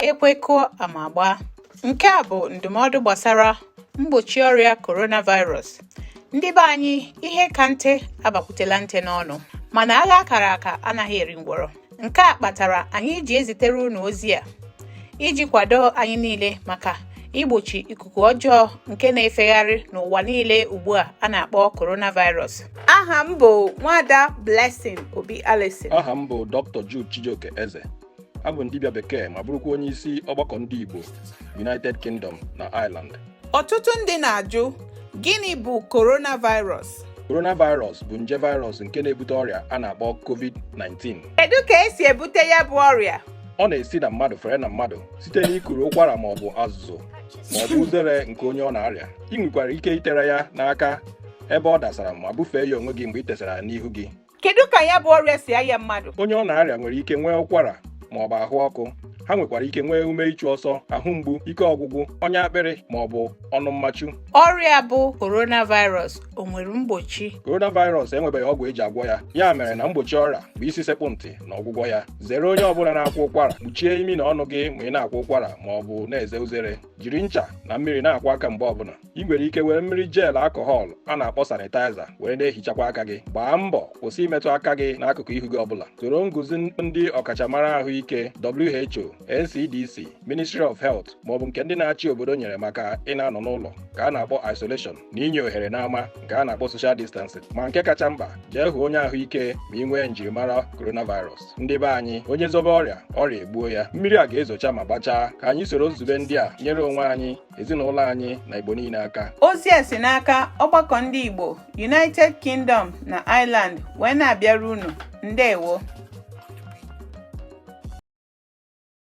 ekwe kụọ ama agbaa nke a bụ ndụmọdụ gbasara mgbochi ọrịa coronavirus ndị be anyị ihe ka nte abakwutela nte n'ọnụ mana agha akara aka anaghị eri ngwọrọ Nke a kpatara anyị ji ezitere unu ozi a iji kwado anyị niile maka igbochi ikuku ọjọọ nke na-efegharị n'ụwa niile ugbu a a na-akpọ coronavirus. Aha m bụ Nwada Blessing Obi Allison. Aha m bụ Dr. Jude Chijioke Eze. Abụ m dibịa bekee ma bụrụkwa onye isi ọgbakọ ndị Igbo United Kingdom na Ireland. Ọtụtụ ndị na-ajụ gịnị bụ coronavirus? Coronavirus bụ nje virus nke na-ebute ọrịa a na-akpọ COVID-19. Kedu ka esi ebute ya bụ ọrịa? Ọ na-esi na mmadụ fere na mmadụ site n'ikuru ụkwara ma ọ bụ azụzụ ma ọ bụ uzere nke onye ọ na-arịa. I nwekwara ike itere ya n'aka ebe ọ dasara ma bufee ya onwe gị mgbe i tesara ya n'ihu gị. kedu ka ya bụ ọrịa si aya mmadụ onye ọ na-arịa nwere ike nwee ụkwara ma ọ bụ ahụ ọkụ ha nwekwara ike nwee ume ịchụ ọsọ ahụ mgbu ike ọgwụgwụ ọnya akpịrị ma ọ bụ ọnụ mmachu ọrịa bụ coronavirus o nwere mgbochi coronavirus enwebeghị ọgwụ eji agwọ ya ya mere na mgbochi ọrịa bụ isi sekpụ ntị na ọgwụgwọ ya zere onye ọbụla na-akwa ụkwara kpuchie imi na ọnụ gị ma ị na-akwa ụkwara ma ọ bụ na-eze uzere jiri ncha na mmiri na-akwọ aka mgbe ọbụla i nwere ike were mmiri jel alcohol a na-akpọ sanitizer were na-ehichakwa aka gị gbaa mbọ kwụsị imetụ aka gị n'akụkụ ihu gị ọbụla soro nguzi ndị ọkachamara ahụike WHO NCDC Ministry of Health maọbụ nke ndị na-achị obodo nyere maka ị na-anọ n'ụlọ nke a na-akpọ isolation na inye ohere n'ama nke a na-akpọ social distancing ma nke kacha mkpa jee hụ onye ahụike ma i nwee njirimara coronavirus ndị be anyị onye zobe ọrịa ọrịa egbuo ya mmiri a ga-ezocha ma gbachaa ka anyị soro nzube ndị a nyere onwe anyị ezinụlọ anyị na Igbo niile aka ozi a si n'aka ọgbakọ ndị Igbo United Kingdom na Ireland wee na-abịara unu ndewo